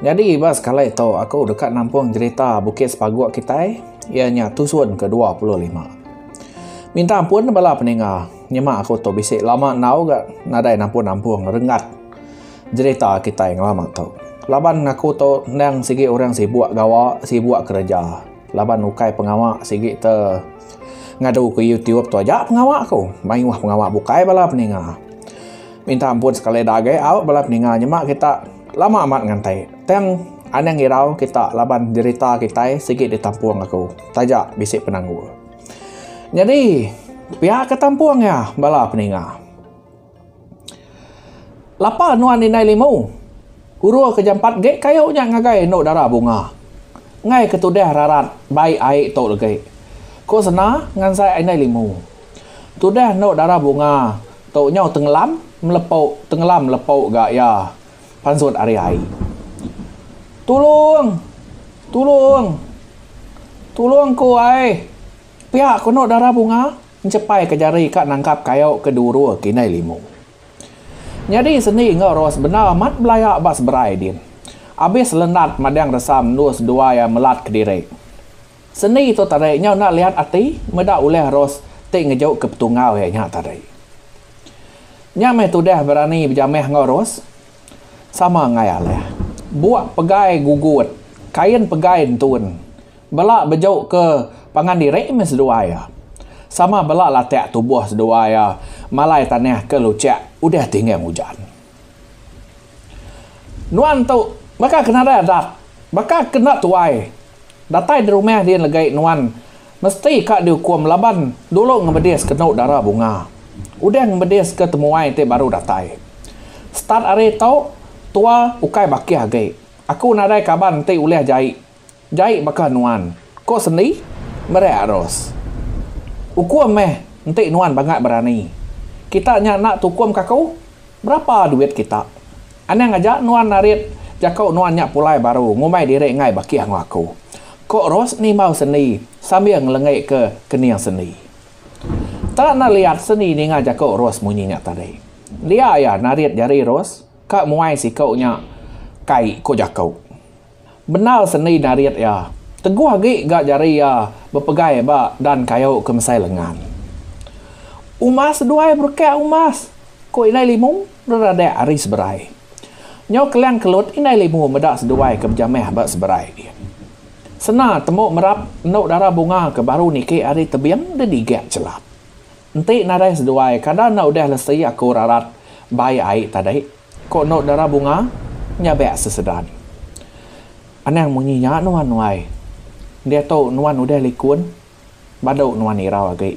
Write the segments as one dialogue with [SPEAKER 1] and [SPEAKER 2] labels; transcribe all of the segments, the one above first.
[SPEAKER 1] Nyadi ba sekali tu aku deka nampung jerita Bukit Sepaguk kitai iya nya tusun ke dua puluh lima. Minta ampun bala peninga nyema aku tu bisi lama enggau ga nadai nampung-nampung renggat jerita kitai ngelama tu. Laban aku tu endang sigi orang sibuk gawa sibuk kereja laban ukai pengawa sigi te ngadu ke YouTube tu aja pengawa aku mayuh pengawa bukai bala peninga. Minta ampun sekali dah agei au bala peninga nyema kita lama amat ngantai tang anang irau kita laban derita kitai sigi ditampung aku taja bisi penanggul. Nyadi pia ke tampung iya bala peninga. Lapa nuan indai limu urung ke jampat gek kayu nya ngagai enu dara bunga enggai ke tudah rarat bai ai tu legi. Ku sena ngansai indai limu tudah enu dara bunga Tu nyau tenglam melepu tenglam melepu ga iya pansut ari ai. Tulung! Tulung! Tulung ku ai! Pia kono dara bunga enchepai ke jari ka nangkap kayu ke durur ke indai limu. Nyadi sendi enggau Ros bendar amat belaya ba seberai din. Abis Lenat madang resam endur seduai iya melat kediri. Seni tu tadi nyau enda liat ati meda ulih Ros ti ngejukka petungau iya nya tadi. Nya meh tudah berani bejamah enggau Ros. Sama enggai alih. Buk pegai gugut, kain pegai entun. Bela bejukka pangan diri meh seduai iya. Sama bela latak tubuh seduai iya malai tanah ke luchak udah tinggang ujan. Nuan tu baka ke nadai adat, baka ke enda tuai. Datai di rumah di enggai nuan mesti ka diukum laban dulu ngemedis ke enu dara bunga. Udah ngemedis ke temuai ti baru datai. Start ari tu, tua ukai bakih agi. Aku nadai kaban ti ulih jai Jai baka nuan, ko sendi, Mereak Ros. Ukum meh, enti nuan bangat berani. Kita nya enda tukum ka aku, berapa duit kita. Anang aja nuan narit jako nuan nya pulai baru ngumbai diri enggai bakih enggau aku, ko Ros nimbau sendi sambil ngelengi ke kening sendi. Enda enda liat sendi ninga jako Ros munyi nya tadi. Dia iya narit jari Ros ka muai siko nya kai ko jako. Bendar sendi narit iya. Teguh agi ga jari iya bepegai ba dan kayu ke mesai lengan. Umas seduai berekak umas, ku Indai Limu beradak ari Seberai. Nyau kelang kelut Indai Limu meda seduai ke bejamah ba Seberai. Sena temu merap endu dara bunga ke baru niki ari tebing didigak chelap. Enti nadai seduai kada enda udah lesi aku rarat bai ai tadi, ku endu dara bunga nyabak sesedan. Anang munyi nya nuan nuai. Diatu nuan udah likun badu nuan irau agi,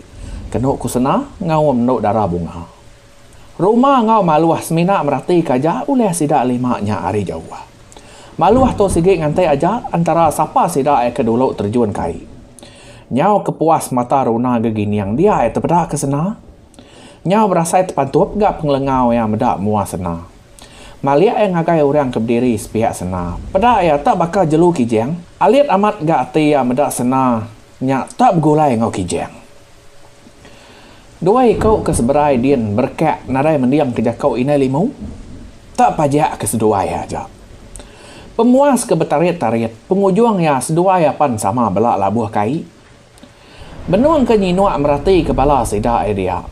[SPEAKER 1] kenu ku Sena ngaum endu dara bunga. Ruma enggau Maluh semina meratika aja ulah sida lima nya ari jauh. Maluh tu sigi nganti aja entara sapa sida ai ke dulu terjun ke ai. Nyau kepuas mata runa gegining dia ai tepeda ke sena. Nyau berasai tepantup ga pengelengau iya meda mua sena. Malik iya ngagai orang ke bediri sepiak sena. Peda iya tak baka jelu Kijang. Alit amat ga ati iya meda sena nya tak begulai enggau Kijang. Dua iku ke seberai din berekak nadai mending ke jaku indai limu. Tak pajak ke seduai aja. Pemuas ke betarit-tarit pengujung iya seduai apan sama bela labuh kai. Benung ke nyinuk merati ke bala sida ai dia.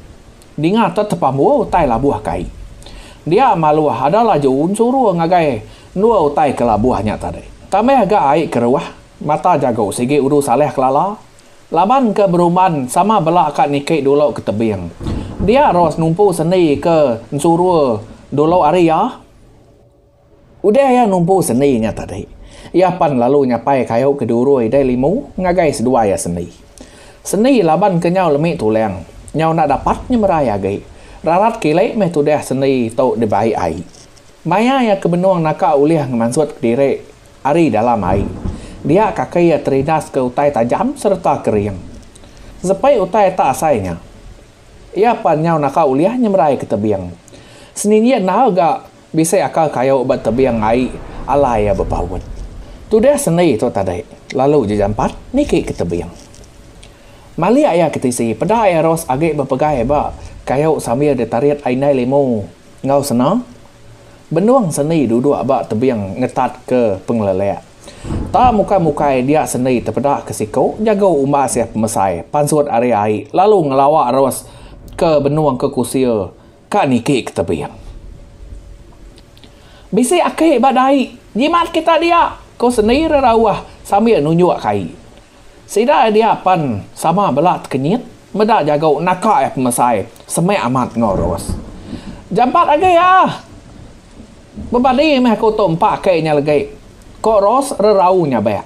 [SPEAKER 1] Dinga te tepambu utai labuh kai. Dia maluh ada laju ensuru ngagai endua utai ke labuh nya tadi. Tambah ga ai keruh mata jagu sigi Uru Saleh kelala. Laban ke beruban sama bela ka niki dulu ke tebing. Dia Ros numpu sendi ke ensuru dulu ari iya. Udah iya numpu sendi nya tadi, iya pan lalu nyapai kayu ke diurui dai limu ngagai seduai iya sendi. Sendi laban ke nyau lemi tulang, nyau enda dapat nyemerai agi. Rarat kili meh tudah sendi tu dibai ai. Maya iya ke benung naka ulih ngemansut kediri. Ari dalam ai. Dia kaki iya teridas ke utai tajam sereta kering. Sepai utai eta asai nya. Iya pan nyau naka ulih nyemerai ke tebing. Seninggi endar ga bisi aka kayu ba tebing ai alai iya bepaut. Tudah sendi tu tadi lalu ja jampat niki ke tebing. Malik iya ke tisi peda iya ros agi bepegai ba kayu sambil ditarit ai indai limu. Enggau sena, benung sendi duduk ba tebing ngetatka pengelelek. Tak mukai-mukai dia sendi tepeda ke siku jago umbas iya pemesai pansut ari ai lalu ngelawa terus ke benung ke kusil ka niki ke tebing. Bisi aki ba dai, jimat kita dia, ku sendi rerauh sambil nunjuk ke ai. Sida ai dia pen sama bela tekenyit meda jago naka ai pemesai semek amat enggau Ros. Jampat agi ah. Bebadi meh aku tu empa kai nya legi. Ko Ros rerau nyabek.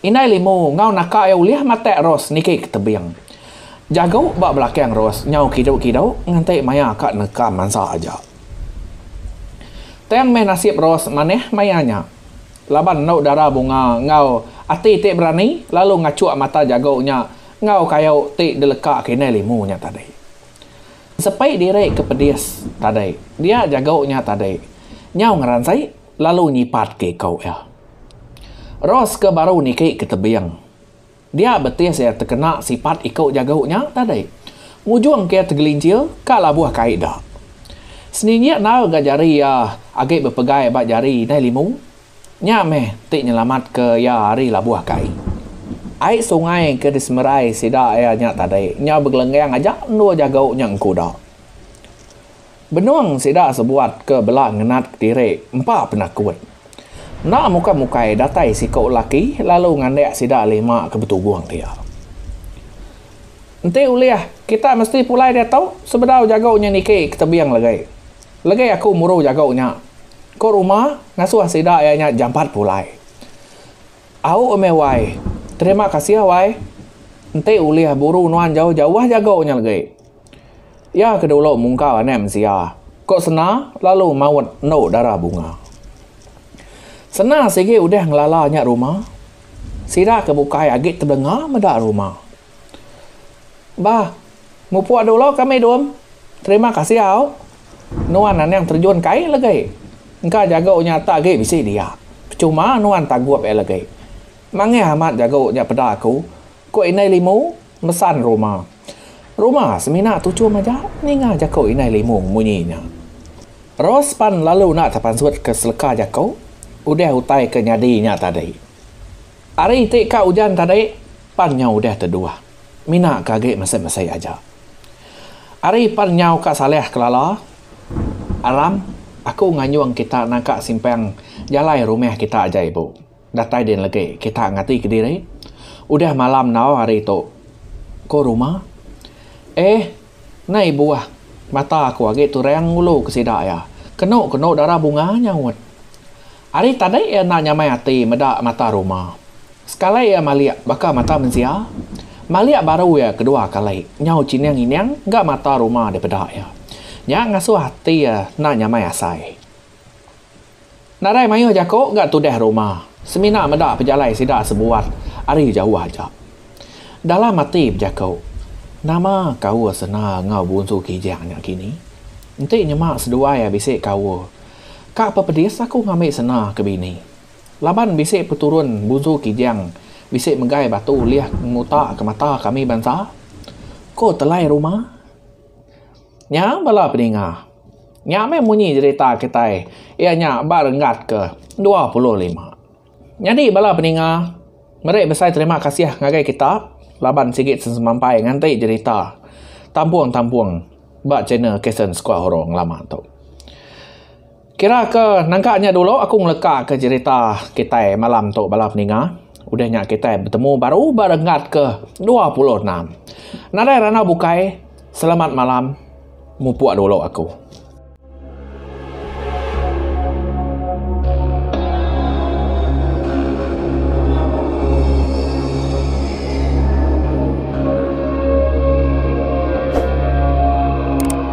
[SPEAKER 1] Indai Limu enggau naka ia ulih matek Ros niki ke tebing. Jago ba belakang Ros nyau kidu kidu nganti maia ka neka mansa aja. Tang meh nasib Ros manah maia nya. Laban enu dara bunga enggau ati ti berani lalu ngachuk mata jago nya enggau kayu ti deleka kinyai limu nya tadi. Sepi diri ke pedis tadi dia jago nya tadi nyau ngeransi lalu nyipat ke iku iya. Ros ke baru niki ke tebing. Dia betih saya tekena sipat iku jagu nya tadi. Ngujung ke tegelincir ka labuh kai da. Senginjik endar ga jari iya agi bepegai ba jari indai limu. Nya meh ti nyelamat ke iya ari labuh kai. Ai sungai ke disemerai sida iya nya tadi nyau begelenggang aja endur jagu nya engku da. Benung sida sebuat ke bela ngenat kediri empa penakut. Enda mukai-mukai datai siku laki lalu ngandik sida lima ke betugung dia. Enti ulih, kita mesti pulai diatu sebedau jagu nya niki ke tebing legi. Legi aku muru jagu nya, ku Ruma ngasuh sida iya nya jampat pulai. Au meh wai, terima kasih wai. Enti ulih buru nuan jauh-jauh jagu nya legi. Iya ke dulu mungkau anak mensia, ko Sena lalu maut endu dara bunga. Sena sigi udah ngelala nya ruma, sida ke bukai agi tebelenga meda ruma. Bah, mupuk dulu kami dum. Terima kasih au. Nuan anang terjun ke ai legi. Engka jago nya ata agi bisi dia. Pechuma nuan tagup ai legi. Mangih amat jago nya peda aku, ko Indai Limu. Mesan ruma. Ruma semina tuchum aja ninga jaku indai limung munyi nya. Ros pan lalu enda tepansut ke seleka jaku udah utai ke nyadi nya tadi. Ari ti ka ujan tadi pan nyau udah teduah. Mina ke agi mesei-mesei aja. Ari pan nyau ka saleh kelala aram aku nganyung kita nangka simpang jalai rumah kita aja ibu. Datai din legi kita ngati kediri. Udah malam enggau hari tu ko rumah. Eh nai buah mata aku agi turang ngulu ke sida iya. Kenu kenu darah bunga nyaut. Ari tadi iya enda nyamai ati meda mata rumah. Sekali iya malik baka mata mensia. Malik baru iya kedua kali nyau chining ining ga mata rumah dipeda iya. Nya ngasuh ati iya enda nyamai asai. Nadai mayuh jaku ga tudah ruma, semina meda pejalai sida sebuat ari jauh aja. Dalam ati bejaku, Nama kaul sena enggau Bunsu Kijang nya kini? Enti nyema seduai ai bisi kaul, ka pepedis aku ngambi sena ke bini. Laban bisi peturun Bunsu Kijang bisi megai batu ulih ngemuta ke mata kami bansa, ko Telai Ruma. Nya bala peninga. Nya meh munyi jerita kitai iya nya ba renggat ke dua puluh lima. Nyadi bala peninga meri besai terima kasih ngagai kita laban sigi sesemampai nganti jerita Tampung Tampung ba channel Kasen Sekua Hurung lama tu. Kira ke nangka nya dulu aku ngeleka ke cerita kitai malam tu bala peninga udah nya kitai betemu baru ba renggat ke dua puluh enam. Nadai randau bukai selamat malam mupuk dulu aku.